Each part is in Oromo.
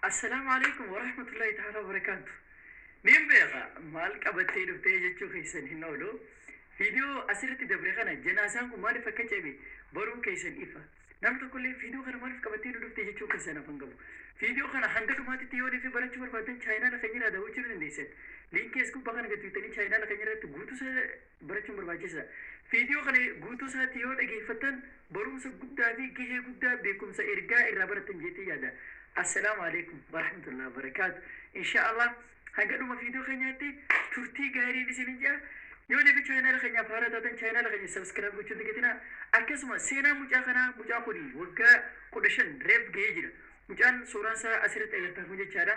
Assalaamu Aleykum Warahmatullahi Ta'ala Wabarakaatu. Niin beeka maal qabattee dhuftee jechuu keessan hin oolu. Viidiyoo asirratti dabre kana janaasaan kun maaliif akka ceebe baruu keessan ifa. Namni tokkollee viidiyoo kana maaliif qabattee nu dhuftee jechuu keessan afan qabu. Viidiyoo kana hanga dhumaatitti yoo deefi barachuu barbaaddan chaayinaala keenya irraa daawwachuu ni dandeessan. Liinkii as gubbaa kana gad tuutanii chaayinaala keenya irratti guutuu barachuun barbaachisaadha. Viidiyoo kana guutuu isaatti yoo dhageeffattan barumsa guddaa fi gahee guddaa beekumsa ergaa irraa barattan jettee yaada. Assalaamu alaikum warahmatullahi wabarakaatu. Inshaallah hanga dhuma viidiyoo keenyaatti turtii gaariin isinin jaa. Yoo deebi chaayinaala keenyaaf haara taatan chaayinaala keenya sabiskiraayib gochuun dagatina. Akkasuma seenaa mucaa kanaa mucaa kuni waggaa kudha shan reef gahee jira. Mucaan suuraan isaa asirratti agartan kun jechaadha.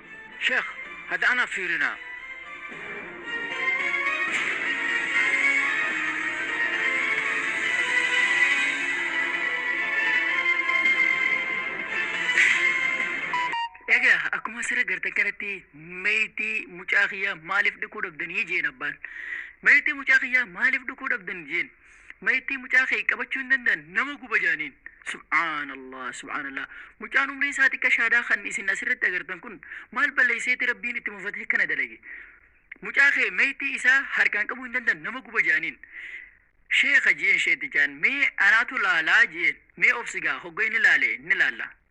Sheikh hada ana firina. Egaa akkuma asirra gartan kanatti meeytii mucaa kiyyaa maaliif dhukuu dhabdanii jeen abbaan. Meeytii mucaa kiyyaa maaliif dhukuu dhabdan jeen. Mayittii mucaa kee qabachuu hin danda'an nama guba jedhaniin. Subhaanallah subhaanallah mucaan umriin isaa xiqqa shaadaa kan isin asirratti agartan kun maal balleesseeti rabbiin itti mufatee kana dalage. Mucaa kee mayittii isaa harkaan qabuu hin danda'an nama guba jedhaniin. Sheeka jeen sheetichaan mee anaatu laalaa jeen mee obsigaa hogga inni laale ni laalla.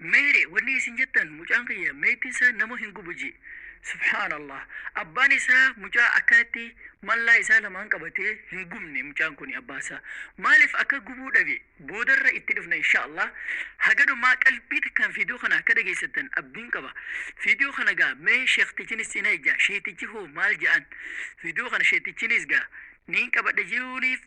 Meere wani isin jettan mucaan kiyya meetin isaa nama hin gubu ji subhaan Allah abbaan isaa mucaa akkanatti mallaa isaa lamaan qabatee hin gubne mucaan kuni abbaa isaa maalif akka gubuu dhabe boodarra itti dhufna insha Allah haga dhumaa qalbii takkaan fiidiyoo kana akka dhageessattan abdiin qaba fiidiyoo kana gaa mee sheektichinis cina ijaa sheetichi hoo maal ja'an fiidiyoo kana sheetichinis gaa niin qabadha jiruuniif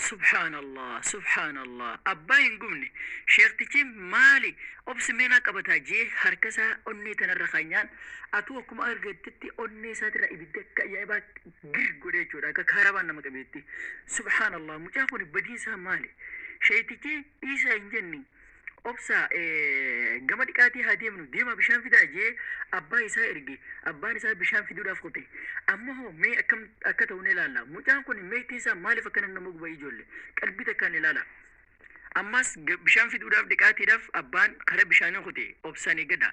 Subhaanallah subhaanallah abbaa hin gubne sheektichi maali obsi meenaa qabataa jee harka isaa onnee tanarra kanyaan atuu akkuma argattetti onnee isaatirra ibidda akka ajaa'ibaa gir godhe jechuudha akka kaarabaan nama qabeetti subhaanallah mucaa kun badiin isaa maali sheektichi dhiisaa hin jenni Obsaa, Gama dhiqaatii haa deemnu, deemaa bishaan fidaa jedhee abbaa isaa erge. Abbaan isaa bishaan fiduudhaaf kute. Amma hoo mee akkam akka ta'u ni ilaalla. Mucaan kun meexxiin isaa maaliif akkana nama guba ijoollee? Qalbii takkaan ilaala. Ammas bishaan fiduudhaaf dhiqaatiidhaaf abbaan karaa bishaanii kute. Obsaan eeggadhaa.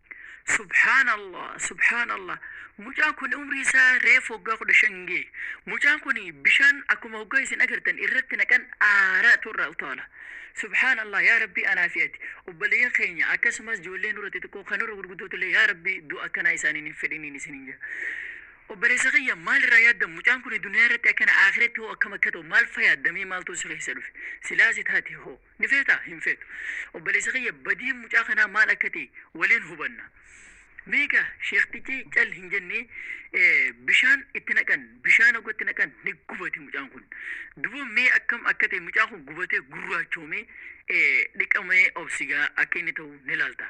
Subhaan Allah subhaan Allah mucaan kun umrii isaa reefu waggaa kudha shan gee mucaan kun bishaan akkuma waggaa isin agartan irratti naqan aaraatu irraa utaala subhaan Allah yaa rabbii anaa fi ati obboleeyyan keenya akkasumas ijoollee nurra xixiqqoo kan nurra gurguddootu illee yaa rabbii du'a akkanaa isaaniin hin fedhiniin isiniin jedha obboleessa kiyya maal irraa yaaddan mucaan kun duniyaa irratti akkana aakiratti hoo akkam akka ta'u maal fa yaaddamee maaltu si keessa dhufe silaasi taate hoo Ni feetaa? Hin feetu. Obboleessa kiyya badiin mucaa kanaa maal akka ta'e waliin hubanna. Beeka sheektichi cal hin jenne bishaan itti naqan bishaan hogga itti naqan ni gubate mucaan kun. Duba mee akkam akka ta'e mucaan kun gubatee gurraachoomee dhiqamee obsigaa akka inni ta'u ni laalta.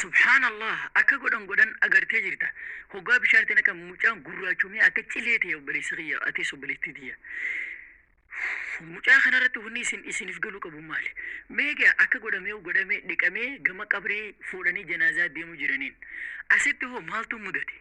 Subhaan Allah akka godhan godhan agartee jirta hoggaa bishaan itti naqan mucaan gurraachomee akka cilee ta'e obboleessa kiyya atis obboleettii tiyya. Mucaa kanarratti wanni isin isiniif galuu qabu maali? Meegaa akka godhamee godhamee dhiqamee gama qabrii fuudhanii janaazaa deemuu jiraniin asitti hoo maaltu mudate?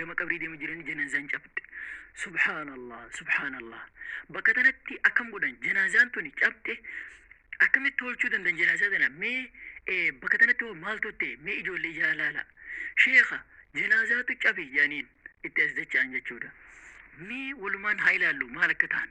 gama qabrii deemu jiranii janaazaan cabde subhaanallah subhaanallah bakka tanatti akkam godhan janaazaan tuni cabde akkamitti tolchuu dandan janaazaa tana mee eh, bakka tanatti hoo maaltu ta'e mee ijoollee ijaa laala sheekha janaazaatu cabe jedhaniin itti as dacha'an jechuudha mee walumaan haa ilaallu maal akka ta'an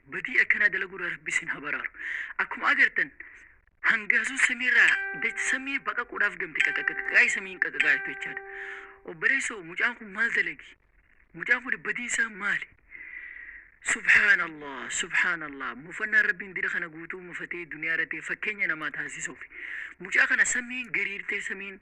Badii akkanaa dalaguurraa rabbi isin haa baraaru. Akkuma agartan hangaasuun samiirraa dach samii baqaquudhaaf gamte qaqaqaqaqaa'ee samiin qaqaqaa jirtu jechaadha. Obboleessoo mucaan kun maal dalagi? Mucaan kun badiin isaa maali? Subhaanallah, subhaanallah. Mufannaan rabbiin dira kana guutuu mufatee duniyaa irratti fakkeenya namaa taasisuuf. Mucaa kana samiin gariirtee samiin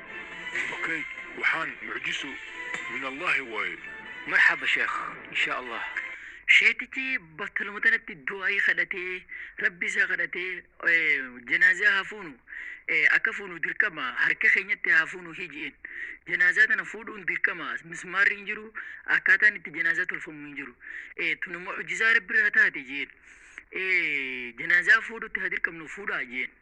Okay waxaan mucjiso min allahi waaye. Marxaba sheekh insha allah. Sheekichi battaluma tanatti du'aa'ii kadhatee rabbi isaa kadhatee janaazaa haa fuunu akka fuunu dirqama harka keenyatti haa fuunu hiji'een janaazaa tana fuudhuun dirqama mismaarri hin jiru akkaataan itti janaazaa tolfamu hin jiru tun immoo hojjisaa rabbi irraa taate jeen janaazaa fuudhutti haa dirqamnu fuudhaa jeen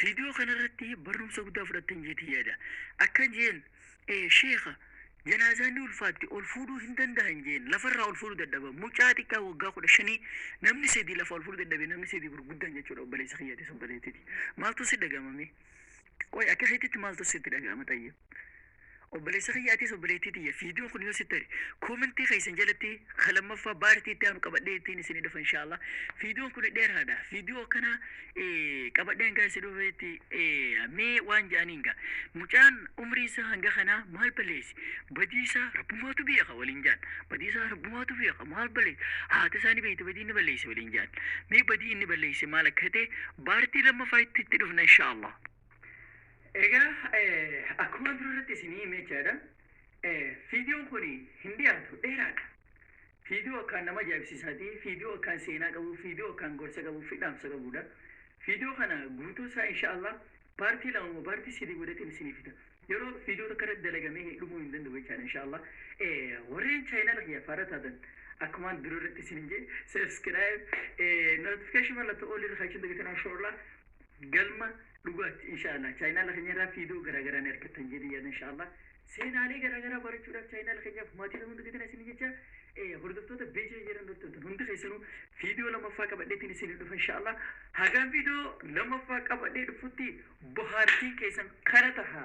Viidiyoo kanarratti barumsa guddaa fudhattan jeetii yaada. Akka jeen sheeka janaazaan ni ulfaatti ol fuudhuu hin danda'an jeen lafarraa ol fuudhuu dadhaban mucaa xiqqaa waggaa kudha shanii namni sadii lafa ol fuudhuu dadhabe namni sadii gurguddaan jechuudha obboleessa kiyyaati obboleettiti maaltu si dhaga'amame qoy akka keetitti maaltu sitti dhaga'ama xayyib Obboleessa kiyya atis obboleettii tiyya viidiyoon kun yoo sitti tole koomentii keessan jalatti ka lammaffaa baartii itti aanu qabadhee ittiin isinii dhufa inshaallah viidiyoon kun dheeraadha viidiyoo akkanaa qabadheen gaa isin dhufeetti mee waan ja'aniin gaa mucaan umrii isaa hanga kanaa maal balleessi badii isaa rabbumaatu beeka waliin jaan badii isaa rabbumaatu beeka maal balleessi haati isaa ni beekti badii inni balleessi waliin jaan mee badii inni balleessi maal akka ta'e baartii lammaffaa itti itti dhufna inshaallah Egaa akkuma durarratti isinii hime jechaadha. Fiidiyoon kun hin dhiyaatu dheeraadha. Fiidiyoo akkaan nama ajaa'ibsiisaati. Fiidiyoo akkaan seenaa qabu, fiidiyoo akkaan gorsa qabu, fidhaamsa qabudha. Fiidiyoo kana guutuu isaa inshaallah paartii lama moo paartii sadii godhateen isinii fida. Yeroo fiidiyoo tokko irratti dalagamee dhumuu hin danda'u jechaadha inshaallah. Warreen chaayinaala kiyya faara taatan akkumaan dura irratti isin hin jee subscribe notification mallattoo olii irra kachuun dagatinaa inshaallah. Galma dhugaatti insha Allah channel keenya irraa fiidoo garaa garaa ni argattan jedhee yaada insha Allah. Seenaalee garaa garaa barachuudhaaf channel keenyaaf maatii ta'uun dagatina isin jecha hordoftoota beecha jedhan hordoftan hundi keessanuu fiidoo lamaffaa qabadheetiin isin dhufa insha Allah. Hagaan fiidoo lamaffaa qabadhee dhufutti bohaartiin keessan kana taha.